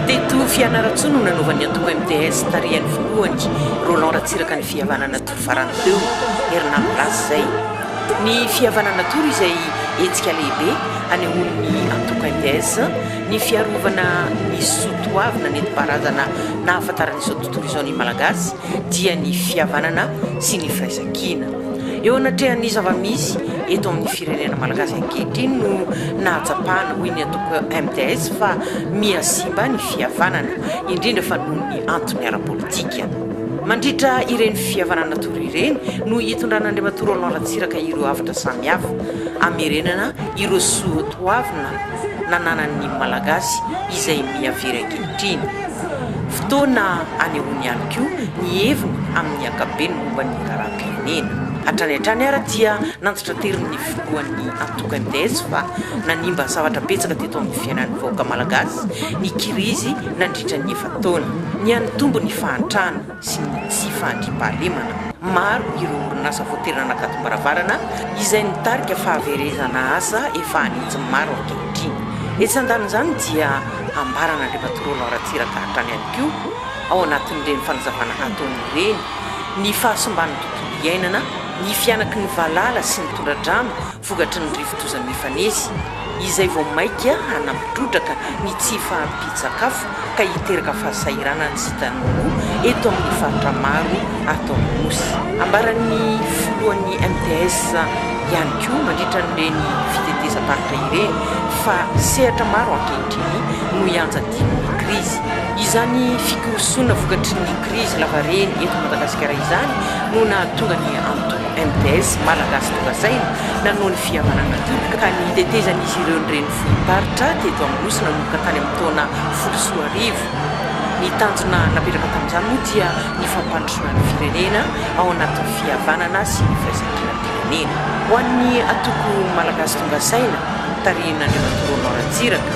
Teto Fianarantsoa no nanaovan'ny antoko MDS tarihan'ny voalohany Roland Ratsiraka ny fihavanana tory farany teo, herinandro lasa izay. Ny fihavanana tory izay hetsika lehibe hanehoan'ny antoko MDS ny fiarovana ny soa toavina nentim-paharazana nahafantaran'izao Tohizaon'ny Malagasy dia ny fihavanana sy ny firaisan-kina. Eo anatrehan'ny zava-misy eto amin'ny firenena Malagasy ankehitriny no nahatsapana, hoy ny antoko MDS, fa miha simba ny fihavanana, indrindra fa noho ny antony ara-politika. Mandritra ireny fihavanana tory ireny no hitondran'Andriamatoa Roland Ratsiraka ireo hafatra samihafa, hamerenana ireo soatoavina. nananan'ny Malagasy izay miha very ankehitriny. Fotoana anehoany ihany koa ny heviny amin'ny ankapobeny momba ny raharaham-pirenena. Hatrany hatrany ary dia nanditranteron'ny filohan'ny antoko MDS fa nanimba zavatra betsaka teto amin'ny fiainan'ny vahoaka Malagasy ny kirizy nandritra ny efa-taona. Nihanitombo ny fahantrana. sy ny tsy fahandriampahalemana. Maro ireo orinasa vao tery nanakatombaravarana izay nitarika fahaverezana asa efa hanitsy maro ankehitriny. Etsy andanin'izany dia ambaran'Andriamatoa Roland Ratsiraka hatrany ihany koa ao anatin'ireny fanazavana ataony ireny ny fahasimban'ny tontolo iainana, ny fihanaky ny valala sy ny tondra-drano, vokatry ny rivodoza mifanesy, izay vao mainka hanampy trotraka ny tsy fahampian-tsakafo ka hiteraka fahasahiranana sy tanimboly eto amin'ny faritra maro ato amin'ny Nosy. Ambaran'ny filohan'ny MTS ihany koa mandritra an'ireny fitetezam-paritra ireny fa sehatra maro ankehitriny no ianjadian'ny krizy. Izany fikorosoana vokatry ny krizy lavareny eto Madagasikara izany no nahatonga ny antoko MDS, Malagasy Nokasaina nanoa ny fihavanana teo ka ny tetezan'izy ireo ny renivohi-paritra teto Anosy nanomboka tany amin'ny taona folo sy roa arivo. Ny tanjona napetraka tamin'izany moa dia ny fampandrosoana ny firenena ao anatin'ny fihavanana sy ny firaisankina-pirenena. Ho an'ny antoko Malagasy Tonga Saina tarihin'Andriamatoa Roland Ratsiraka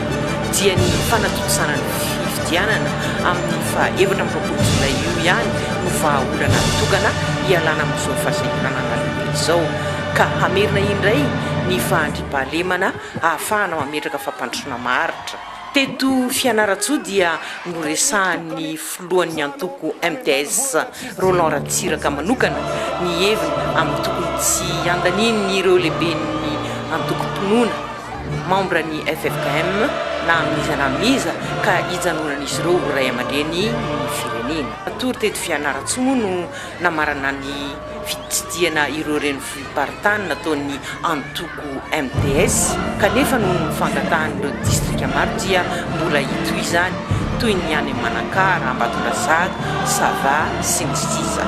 dia ny fanatontosana ny. fifidianana amin'ny faha efatra amby roapolo jolay io ihany no vahaolana tokana hialana amin'izao fahasahiranana lehibe izao ka hamerina indray ny fahandriampahalemana hahafahana mametraka fampandrosoana maharitra. Teto Fianarantsoa dia noresahan'ny filohan'ny antoko MDS, Roland Ratsiraka manokana ny heviny amin'ny tokony tsy handanian'ireo lehiben'ny antokom-pinoana, Membre ny ffkm na amin'iza na amin'iza ka hijanonan'izy ireo ho ray aman-dreny ny firenena. Matory teto Fianarantsoa moa no namarana ny fitsidihana ireo renivohi-paritany nataon'ny antoko MDS kanefa noho ny fangatahan'ireo distrika maro dia mbola hitohy izany toy ny any Manakara, Ambatondrazaka, Sava sy ny sisa.